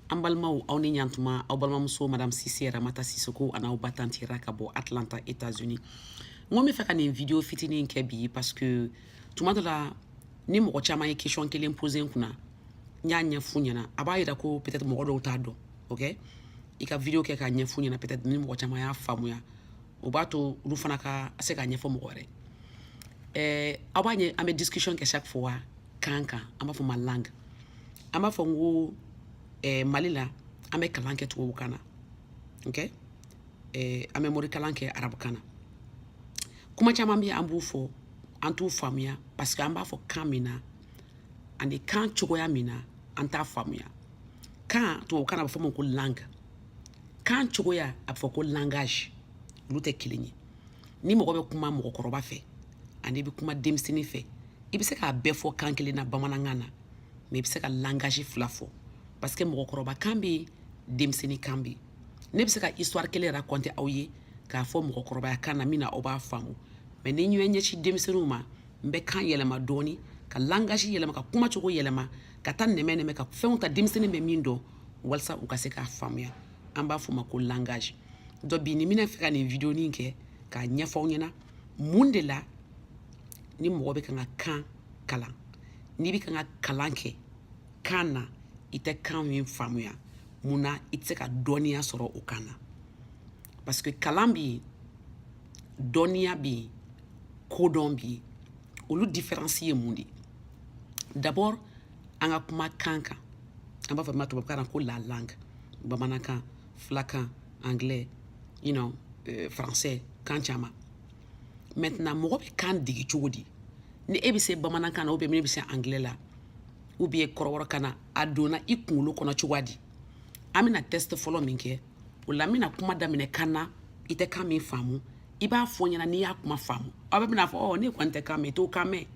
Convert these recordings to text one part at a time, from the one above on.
An balimaw aw ni yan tuma aw balimamuso madame Sise Ramata Sisoko an'aw ba tanti Ra ka bɔ Atlanta États-Unis n ko n bɛ fɛ ka nin video fitinin in kɛ bi parce que tuma dɔ la ni mɔgɔ caman ye question kelen poser n kunna n y'a ɲɛf'u ɲɛna a b'a jira ko peut-être mɔgɔ dɔw t'a dɔn ok i ka video kɛ k'a ɲɛf'u ɲɛna peut-être ni mɔgɔ caman y'a faamuya o b'a to olu fana ka se k'a ɲɛfɔ mɔgɔ wɛrɛ ye aw b'a ye an bɛ discussion kɛ chaque fois kan kan an b'a fɔ ma langue an b'a fɔ n ko eh, Mali la an bɛ kalan kɛ tubabukan na ok eh, an bɛ mori kalan kɛ arabukan na kuma caman bɛ an b'u fɔ an t'u faamuya parce que an b'a fɔ kan min na ani kan cogoya min na an t'a faamuya kan tubabukan na a bɛ fɔ ma ko langue kan cogoya a bɛ fɔ ko langage olu tɛ kelen ye ni mɔgɔ bɛ kuma mɔgɔkɔrɔba fɛ ani i bɛ kuma denmisɛnnin fɛ i bɛ se k'a bɛɛ fɔ kan kelen na bamanankan na mais i bɛ se ka langage fila fɔ parce que mɔgɔkɔrɔba kan bɛ yen denmisɛnnin kan bɛ yen ne bɛ se ka histoire kelen raconter aw ye k'a fɔ mɔgɔkɔrɔbaya kan na min na aw b'a faamu mais ni n y'a ɲɛsin denmisɛnninw ma n bɛ kan yɛlɛma dɔɔni ka langage yɛlɛma ka kuma cogo yɛlɛma ka taa nɛmɛ nɛmɛ ka fɛnw ta denmisɛnnin bɛ min dɔn walasa u ka se k'a faamuya an b'a fɔ ma ko langage donc bi ni n bɛna fɛ ka nin videonin kɛ k'a ɲɛfɔ aw ɲɛna mun de la ni mɔgɔ bɛ kan ka kan kalan n'i bɛ kan ka kalan kɛ kan na i tɛ kan min faamuya mun na i tɛ se ka dɔnniya sɔrɔ o kan na parce que kalan bɛ yen dɔnniya bɛ yen kodɔn bɛ yen olu différence ye mun de ye d'abord an ka kuma kan kan an b'a fɔ min ma tubabukan na ko la langue bamanankan filakan anglais you know euh, français kan caman maintenant mɔgɔ bɛ kan degi cogo di ni e bɛ se bamanankan na ou bien ne bɛ se anglais la ou bien kɔrɔbɔrɔkan na a donna i kunkolo kɔnɔ cogoya di an bɛna test fɔlɔ min kɛ o la n bɛna kuma daminɛ kan na i tɛ kan min faamu i b'a fɔ n ɲɛna n'i y'a kuma faamu aw bɛɛ bɛna fɔ ɔ ne kɔni tɛ kan mɛn i t'o kan mɛn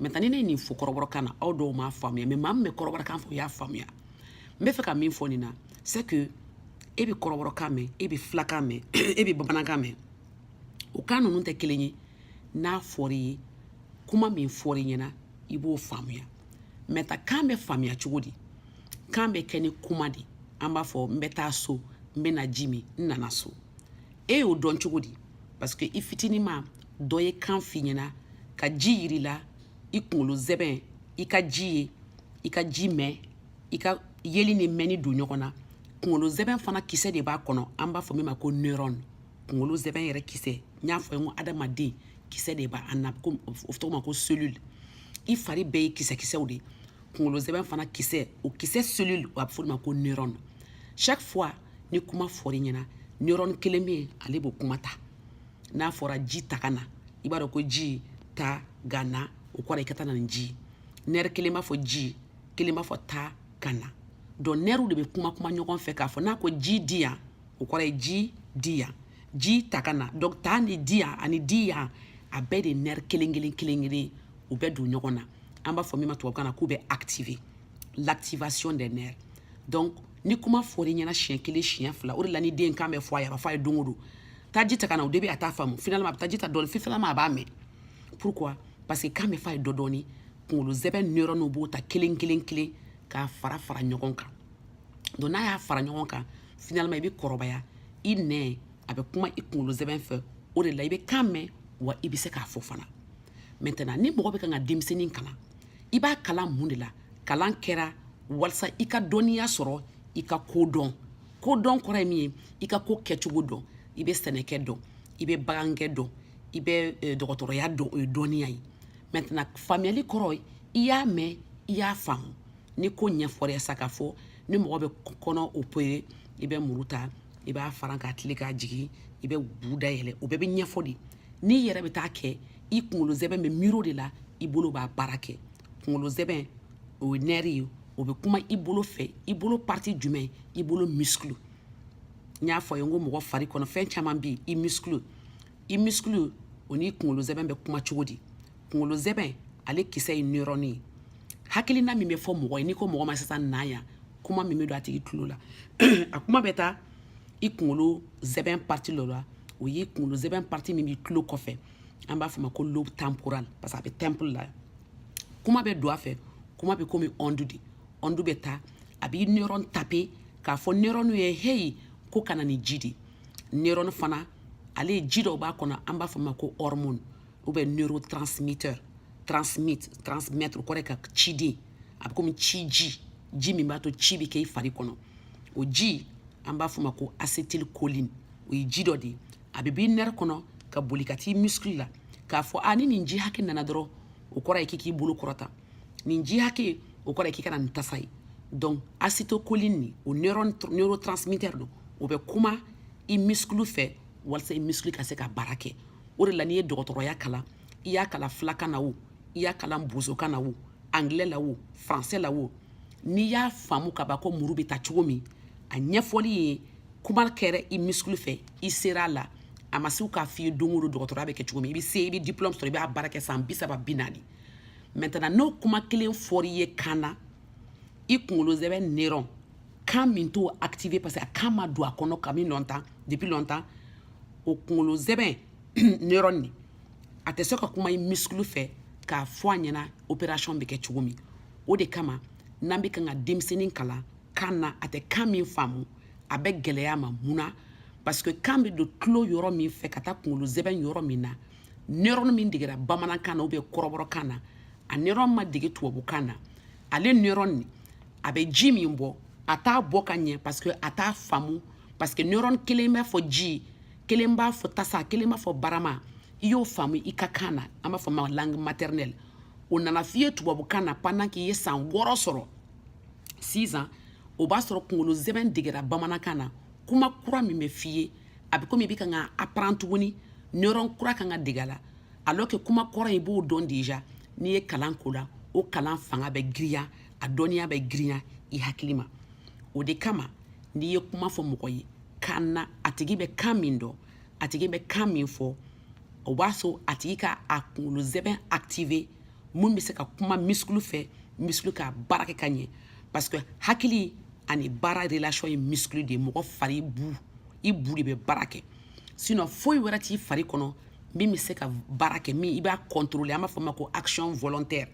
maintenant ni ne ye nin fɔ kɔrɔbɔrɔkan na aw dɔw m'a faamuya mais maa min bɛ kɔrɔbɔrɔkan fɔ o y'a faamuya n bɛ fɛ ka min fɔ nin na c'est que e bɛ kɔrɔbɔrɔkan mɛn e bɛ filakan mɛn e bɛ bamanankan mɛn o kan ninnu tɛ kelen ye n'a fɔra i ye kuma min fɔra i ɲɛna i b'o faamuya maintenant kan bɛ faamuya cogo di kan bɛ kɛ ni kuma de an b'a fɔ n bɛ taa so n bɛna ji min n nana so e y'o dɔn cogo di parce que i fitinin maa dɔ ye kan f'i ɲɛna ka ji yir'i la i kunkolo zɛbɛn i ka ji ye i ka ji mɛn i ka yeli ni mɛnni don ɲɔgɔn na kunkolo zɛbɛn fana kisɛ de b'a kɔnɔ an b'a fɔ min ma ko neuron kunkolo zɛbɛn yɛrɛ kisɛ n y'a fɔ ye ko adamaden kisɛ de b'an na ko o tɔgɔ ma ko cellule i fari bɛɛ ye kisɛkisɛw de ye kunkolo zɛbɛn fana kisɛ o kisɛ cellule a bɛ fɔ o de ma ko neuron chaque fois ni kuma fɔr'i ɲɛna neuron kelen bɛ yen ale b'o kuma ta n'a fɔra ji ta ka na i b'a dɔn ko ji ta ka na o kɔrɔ i ka taa na ni ji nɛri kelen b'a fɔ ji kelen b'a fɔ ta ka na donc nɛriw de bɛ kuma kuma ɲɔgɔn fɛ k'a fɔ n'a ko ji di yan o kɔrɔ ye ji di yan ji ta ka na donc ta ni di yan ani di yan a bɛɛ de nɛri kelen kelen kelen kelen u bɛɛ don ɲɔgɔn na an b'a fɔ min ma tubabukan na k'u bɛ activer l'activation des nerfs donc ni kuma fɔr'i ɲɛna siɲɛ kelen siɲɛ fila o de la ni den kan bɛ fɔ a ye a b'a fɔ a ye don o don taa ji ta ka na o de bɛ a t'a faamu finalement a bɛ taa ji ta dɔɔni finalement a b'a mɛn pourquoi parce que kan bɛ fɔ a ye dɔ dɔɔni kunkolo zɛbɛn neuronw b'o ta kelen kelen kelen k'a fara fara ɲɔgɔn kan donc n'a y'a fara ɲɔgɔn kan finalement i bɛ kɔrɔbaya i nɛn a bɛ kuma i kunkolo zɛbɛn fɛ o de la i bɛ kan mɛn wa i bɛ se k'a fɔ fana maintenant ni mɔgɔ bɛ kan ka denmisɛnnin kalan i b'a kalan mun de la kalan kɛra walisa i ka dɔnniya sɔrɔ i ka ko dɔn kodɔn kɔrɔ ye min ye i ka ko kɛcogo dɔn i bɛ sɛnɛkɛ dɔn i bɛ bagankɛ dɔn i bɛ eh, dɔgɔtɔrɔya dɔn o ye dɔnniya ye maintenant faamuyali kɔrɔ ye i y'a mɛn i y'a faamu ni ko ɲɛfɔra sa k'a fɔ ni mɔgɔ bɛ kɔnɔ opérer i bɛ muru ta i b'a faran k'a tilen k'a jigin i bɛ bu dayɛlɛ o bɛɛ bɛ ɲɛfɔ de n'i yɛrɛ bɛ taa kɛ i kunkolo zɛbɛn bɛ miiri o de la i bolo b'a baara kɛ kunkolo zɛbɛn o ye nɛri ye o bɛ kuma i bolo fɛ i bolo partie jumɛn i bolo muscle n y'a fɔ a ye n ko mɔgɔ fari kɔnɔ fɛn caman bɛ yen i muscle i muscle o n'i kunkolo zɛbɛn bɛ kuma cogo di kunkolo zɛbɛn ale kisɛ ye neuron ye hakilina min bɛ fɔ mɔgɔ ye n'i ko mɔgɔ ma sisan na yan kuma min bɛ don a tigi tulo la a kuma bɛ taa i kunkolo zɛbɛn partie dɔ la o y'i kunkolo zɛbɛn partie min b'i tulo kɔfɛ an b'a fɔ ma ko lobe temporal parce que a bɛ tempe la kuma bɛ don a fɛ kuma bɛ komi onde de onde bɛ taa a b'i neuron taper k'a fɔ neuron ye heyi ko ka na ni ji de neuron fana ale ye ji dɔw b'a kɔnɔ an b'a fɔ ma ko hormone ou bien neurotransmetteur transmit transmettre o kɔrɔ ye ka ciden a bɛ komi ci ji ji min b'a to ci bɛ kɛ i fari kɔnɔ o ji an b'a f'o ma ko acetylcholine o ye ji dɔ de ye a bɛ b'i nerf kɔnɔ ka boli ka t'i muscle la k'a fɔ a ni nin ji hakɛ nana dɔrɔn o kɔrɔ ye k'i k'i bolo kɔrɔta nin ji hakɛ o kɔrɔ ye k'i kana nin tasa ye donc acetylcholine nin o neurotransmitter don o bɛ kuma i muscle fɛ walasa i muscle ka se ka baara kɛ o de la n'i ye dɔgɔtɔrɔya kalan i y'a kalan filakan na wo i y'a kalan bozokan na wo anglais la wo français la wo n'i y'a faamu ka ban ko muru bɛ ta cogo min a ɲɛfɔli ye kuma kɛra i muscle fɛ i sera a la a ma se k'a f'i ye don o don dɔgɔtɔrɔya bɛ kɛ cogo min i bɛ se i bɛ diplôme sɔrɔ i b'a baara kɛ san bi saba bi naani maintenant n'o kuma kelen fɔr'i ye kan na i kunkolo zɛbɛn neurone kan min t'o activer parce que a kan ma don a kɔnɔ kabini longtemps depuis longtemps o kunkolo zɛbɛn neurone nin a tɛ se ka kuma i muscle fɛ k'a fɔ a ɲɛna opération bɛ kɛ cogo min o de kama n'an bɛ kan ka denmisɛnnin kalan kan na a tɛ kan min faamu a bɛ gɛlɛya ma mun na parce que kan bɛ don tulo yɔrɔ min fɛ ka taa kunkolo zɛbɛn yɔrɔ min na neurone min degera bamanankan na ou bien kɔrɔbɔrɔkan na a neurone ma dege tubabukan na ale neurone nin a bɛ ji min bɔ a t'a bɔ ka ɲɛ parce que a t'a faamu parce que neurone kelen b'a fɔ ji kelen b'a fɔ tasa kelen b'a fɔ barama i y'o faamu i ka kan na an b'a fɔ ma langue maternelle o nana f'i ye tubabukan na pendant k'i ye san wɔɔrɔ sɔrɔ six ans o b'a sɔrɔ kunkolo zɛbɛn degera bamanankan na kuma kura min bɛ f'i ye a bɛ komi i bɛ kan ka apprendre tuguni neurone kura kan ka dege a la alors que kuma kɔrɔ i b'o dɔn déjà n'i ye kalan k'o la o kalan fanga bɛ girinya a dɔnniya bɛ girinya i hakili ma o de kama n'i ye kuma fɔ mɔgɔ ye kan na a tigi bɛ kan min dɔn a tigi bɛ kan min fɔ o b'a sɔrɔ a tigi ka a kunkolo zɛbɛn activer min bɛ se ka kuma muscle fɛ muscle ka baara kɛ ka ɲɛ parce que hakili ani baara relation ye muscle de ye mɔgɔ fari bu i bu de bɛ baara kɛ sinon foyi wɛrɛ t'i fari kɔnɔ min bɛ se ka baara kɛ min i b'a contrôler an b'a fɔ o ma ko action volontaire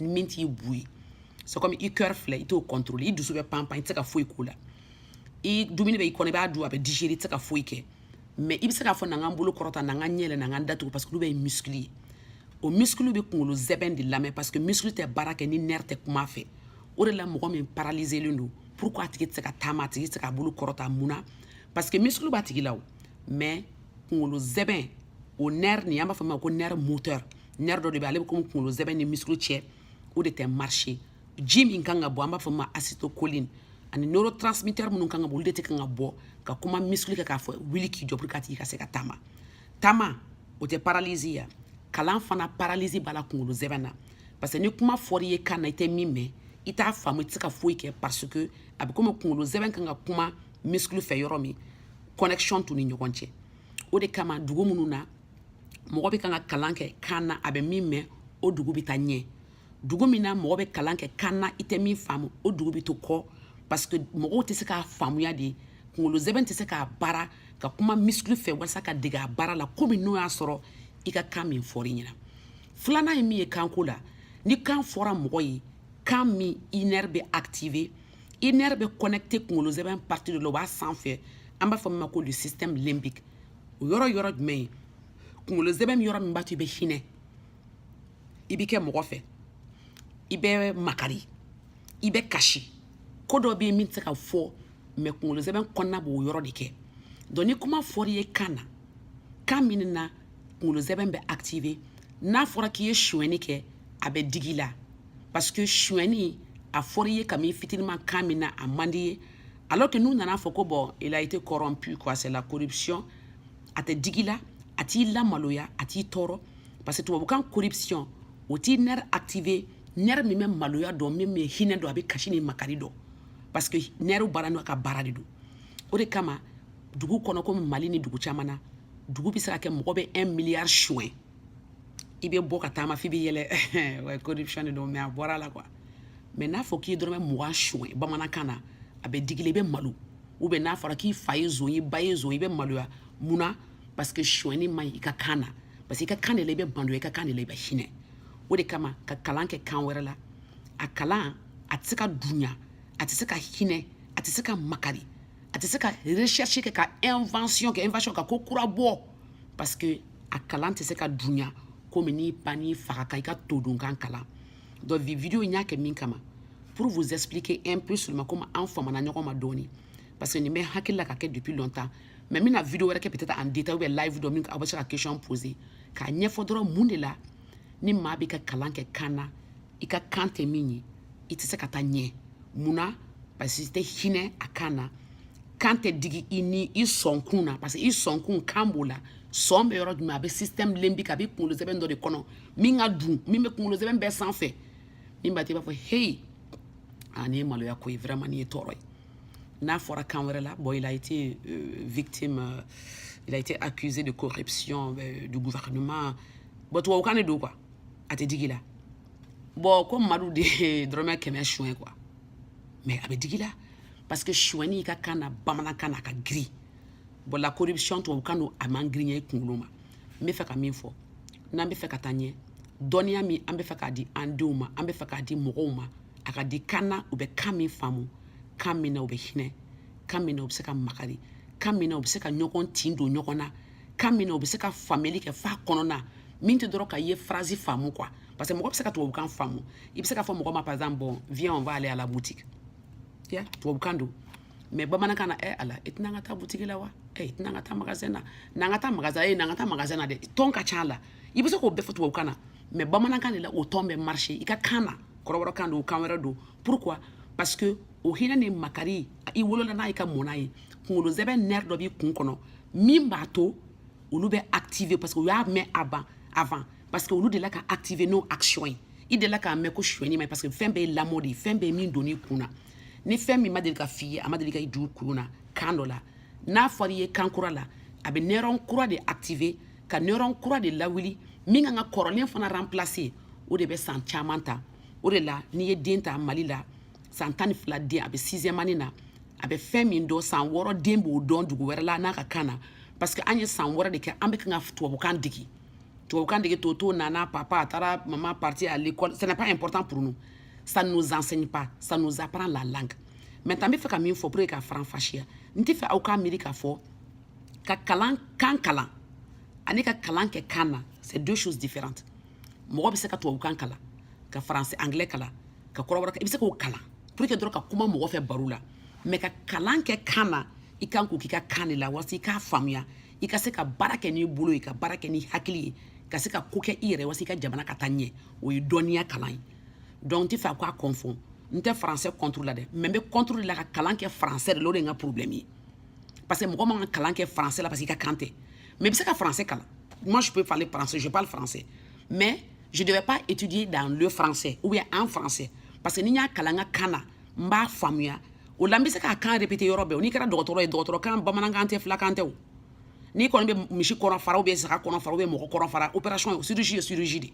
min t'i bu ye c'est comme i cœur filɛ i t'o contrôler i dusu bɛ panpan i tɛ se ka foyi k'o la i dumuni bɛ i kɔnɔ i b'a dun a bɛ digérer i tɛ se ka foyi kɛ mais i bɛ se k'a fɔ na n ka n bolo kɔrɔta na n ka n ɲɛ yɛlɛ na n ka n da tugu parce que olu bɛɛ ye muscle ye o musclew bɛ kunkolo zɛbɛn de lamɛn parce que muscle tɛ baara kɛ ni nerf tɛ kuma fɛ o de la mɔgɔ min paralizelen don pourquoi a tigi tɛ se ka taama a tigi tɛ se k'a bolo kɔrɔta mun na parce que musclew b'a tigi la wo mais kunkolo zɛbɛn o nerf nin an b'a fɔ min ma ko nerf moteur nerf dɔ de bɛ ale bɛ komi kunkolo zɛbɛn ni muscle cɛ o de tɛ marcher ji min kan ka bɔ an b'a fɔ ma acétylcholine ani neurotransmetteur minnu kan ka bɔ olu de tɛ kan ka bɔ ka kuma muscle kɛ k'a fɔ wuli k'i jɔ pour que a tigi ka se ka taama taama o tɛ paralysie ya kalan fana paralysie b'a la kunkolo zɛbɛn na parce que ni kuma fɔr'i ye kan na i tɛ min mɛn i t'a faamu i tɛ se ka foyi kɛ parce que a bɛ komi kunkolo zɛbɛn kan ka kuma muscle fɛ yɔrɔ min connexion t'u ni ɲɔgɔn cɛ o de kama dugu minnu na mɔgɔ bɛ kan ka kalan kɛ kan na a bɛ min mɛn o dugu bɛ taa ɲɛ dugu min na mɔgɔ bɛ kalan kɛ kan na i tɛ min faamu o dugu bɛ to kɔ parce que mɔgɔw tɛ se k'a faamuya de kunkolo zɛbɛn tɛ se k'a baara ka kuma muscle fɛ walasa ka dege a baara la komi n'o y'a sɔrɔ i ka kan min fɔr'i ɲɛna filanan ye min ye kanko la ni kan fɔra mɔgɔ ye kan min i nerf bɛ activer i nerf bɛ connecter kunkolo zɛbɛn partie dɔ la o b'a sanfɛ an b'a fɔ min ma ko le système limbique o yɔrɔ yɔrɔ jumɛn ye kunkolo zɛbɛn yɔrɔ min b'a to i bɛ hinɛ i bɛ kɛ mɔgɔ fɛ i bɛ makari i bɛ kasi ko dɔ bɛ yen min tɛ se ka fɔ mais kunkolo zɛbɛn kɔnɔna b'o yɔrɔ de kɛ donc ni kuma fɔra i ye kan na kan min na kunkolo zɛbɛn bɛ activer n'a fɔra k'i ye sonyɛni kɛ a bɛ dig'i la parce que sonyɛni a fɔra i ye kabini fitiniman kan min na a man di ye alors que n'u nana fɔ ko bon il a été corrompu quoi c'est la corruption a tɛ dig'i la a t'i lamaloya a t'i tɔɔrɔ parce que tubabukan corruption o t'i nerf activer nerf min bɛ maloya dɔn min bɛ hinɛ dɔn a bɛ kasi ni makari dɔn parce que nerfw baara n'u ka baara de don o de kama dugu kɔnɔ komi mali ni dugu caman na dugu bɛ se ka kɛ mɔgɔ bɛ 1 miliyari suɲɛ i bɛ bɔ ka taama f'i bɛ yɛlɛ ouais corruption de don mais a bɔra la quoi mais n'a fɔ k'i ye dɔrɔmɛ mugan suɲɛ bamanankan na a bɛ dig'i la i bɛ malo ou bien n'a fɔra k'i fa ye zon ye i ba ye zon i bɛ maloya mun na parce que suɲɛni man ɲi i ka kan na parce que i ka kan de la i bɛ malo i ka kan de la i bɛ hinɛ o de kama ka kalan kɛ kan wɛrɛ la a kalan a tɛ se ka dunya a tɛ se ka hinɛ a tɛ se ka makari a tɛ se ka recherche kɛ ka invention kɛ invention ka ko kura bɔ parce que a kalan tɛ se ka dunya komi n'i ba n'i fa ka kan i ka todunkan kalan donc vi vidéo in y'a kɛ min kama pour vous expliquer un peu seulement komi an famana ɲɔgɔn ma dɔɔni parce que nin bɛ hakili la ka kɛ depuis longtemps mais n bɛna vidéo wɛrɛ kɛ peut-être en détail ou bien live dɔ min aw bɛ se ka question poser k'a ɲɛfɔ dɔrɔn mun de la ni maa bɛ ka kalan kɛ kan na i ka kan tɛ min ye i tɛ se ka taa ɲɛ mun na parce que i tɛ hinɛ a kan na kan tɛ digi i ni i sɔnkun na parce que i sɔnkun kan b'o la sɔn bɛ yɔrɔ jumɛn a bɛ système limbique a bɛ kunkolo zɛbɛn dɔ de kɔnɔ min ka dun min bɛ kunkolo zɛbɛn bɛɛ sanfɛ min b'a to i b'a fɔ heyi a nin ye maloya ko ye vraiment nin ye tɔɔrɔ ye n'a fɔra kan wɛrɛ la bon il a été euh, victime euh, il a été accusé de corruption euh, du gouvernement bon tubabukan de don quoi a tɛ digi la bon ko madu de ye dɔrɔmɛ kɛmɛ suɲɛ quoi mais a bɛ digi la parce que suɲɛni i ka kan na bamanankan na a ka girin bon la corruption tubabukan don a man girinya i kunkolo ma n bɛ fɛ ka min fɔ n'an bɛ fɛ ka taa ɲɛ dɔnniya min an bɛ fɛ k'a di an denw ma an bɛ fɛ k'a di mɔgɔw ma a ka di kan na u bɛ kan min faamu kan min na u bɛ hinɛ kan min na u bɛ se ka makari kan min na u bɛ se ka ɲɔgɔn tin don ɲɔgɔn na kan min na o bɛ se ka faamuyali kɛ f'a kɔnɔna min tɛ dɔrɔn k'i ye phrase faamu quoi parce que mɔgɔ bɛ se ka tubabukan faamu i bɛ se k'a fɔ mɔgɔ ma par exemple bon viens on va aller à la boutique ya tubabukan don mais bamanankan na ɛ ala i tɛ na an ka taa butigi la wa ɛ i tɛ na an ka taa magasin na n'an ka taa magasin e n'an ka taa magasin na dɛ ton ka ca a la i bɛ se k'o bɛɛ fɔ tubabukan na mais bamanankan de la o ton bɛ marcher i ka kan na kɔrɔbɔrɔkan don kan wɛrɛ don pourquoi parce que o hinɛ ni makari i wolola n'a ye ka mɔ n'a ye kunkolo sɛmɛ nerf dɔ b'i kun kɔnɔ min b'a to olu bɛ activer parce que u y'a mɛn avant parce que olu delila ka activer n'o action ye i delila k'a mɛn ko suɲɛni man ɲi parce que fɛn bɛɛ ye lamɔ de ye fɛn bɛɛ ye min donn'i kun na ni fɛn min ma deli ka f'i ye a ma deli ka i dugu kulun na kan dɔ la n'a fɔra i ye kan kura la a bɛ neurone kura de activer ka neurone kura de lawuli min kan ka kɔrɔlen fana remplacer o de bɛ san caman ta o de la n'i ye den ta mali la san tan ni fila den a bɛ sixième année na a bɛ fɛn min dɔn san wɔɔrɔ den b'o dɔn dugu wɛrɛ la n'a ka kan na parce que an ye san wɔɔrɔ de kɛ an bɛ kan ka tubabukan dege tubabukan dege toto nana papa a taara maman partie à l'école ce n'est pas important pour nous ça ne nous enseigne pas ça nous apprend la langue maintenant n bɛ fɛ ka min fɔ pour que k'a faranfasiya n tɛ fɛ aw k'a miiri k'a fɔ ka kalan kan kalan ani ka kalan kɛ kan na c'est deux choses différentes mɔgɔ bɛ se ka tubabukan kalan ka français anglais kalan ka kɔrɔbɔrɔ i bɛ se k'o kalan pour que dɔrɔn ka kuma mɔgɔ fɛ baro la mais ka kalan kɛ kan na i kan k'o k'i ka kan de la walasa i k'a faamuya i ka se ka baara kɛ n'i bolo ye ka baara kɛ n'i hakili ye ka se ka ko kɛ i yɛrɛ walasa i ka jamana ka taa ɲɛ o ye dɔnniya kalan ye donc n tɛ fɛ a k'a confond n tɛ français contre la dɛ mais n bɛ contre de la ka kalan kɛ français de la o de ye n ka problème ye parce que mɔgɔ man ka kalan kɛ français la parce que i ka kan tɛ mais i bɛ se ka français kalan moi je peux parler français je parle français mais je devais pas étudier dans le français ou bien en français parce que ni n y'a kalan n ka kan na n b'a faamuya o la n bɛ se k'a kan répéter yɔrɔ bɛɛ o n'i kɛra dɔgɔtɔrɔ ye dɔgɔtɔrɔkan bamanankan tɛ filakan tɛ o n'i kɔni bɛ misi kɔnɔ fara ou bien saga kɔnɔ fara ou bien mɔgɔ kɔnɔ fara opération ye chirurgie ye chirurgie de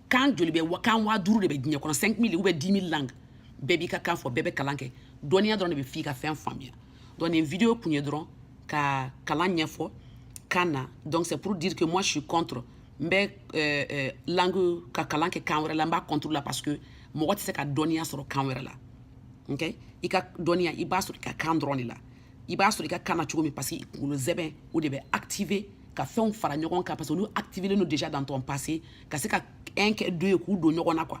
kan joli bɛ kan waa duuru de bɛ diɲɛ kɔnɔ 5000 ou bien 10000 langues bɛɛ b'i ka kan fɔ bɛɛ bɛ kalan kɛ dɔnniya dɔrɔn de b'a f'i ka fɛn faamuya donc nin vidéo kun ye dɔrɔn ka kalan ɲɛfɔ kan na donc c'est pour dire que moi je suis contre n bɛ euh, euh, langue ka kalan kɛ kan wɛrɛ la n b'a contre la parce que mɔgɔ tɛ se ka dɔnniya sɔrɔ kan wɛrɛ la ok i ka dɔnniya i b'a sɔrɔ i ka kan dɔrɔn de la i b'a sɔrɔ i ka kan na cogo min parce que i kunkolo sɛmɛ o de bɛ activer ka fɛnw fara ɲɔgɔn kan parce que olu activilen don déjà dans ton passé ka se ka un kɛ deux ye k'u don ɲɔgɔn na quoi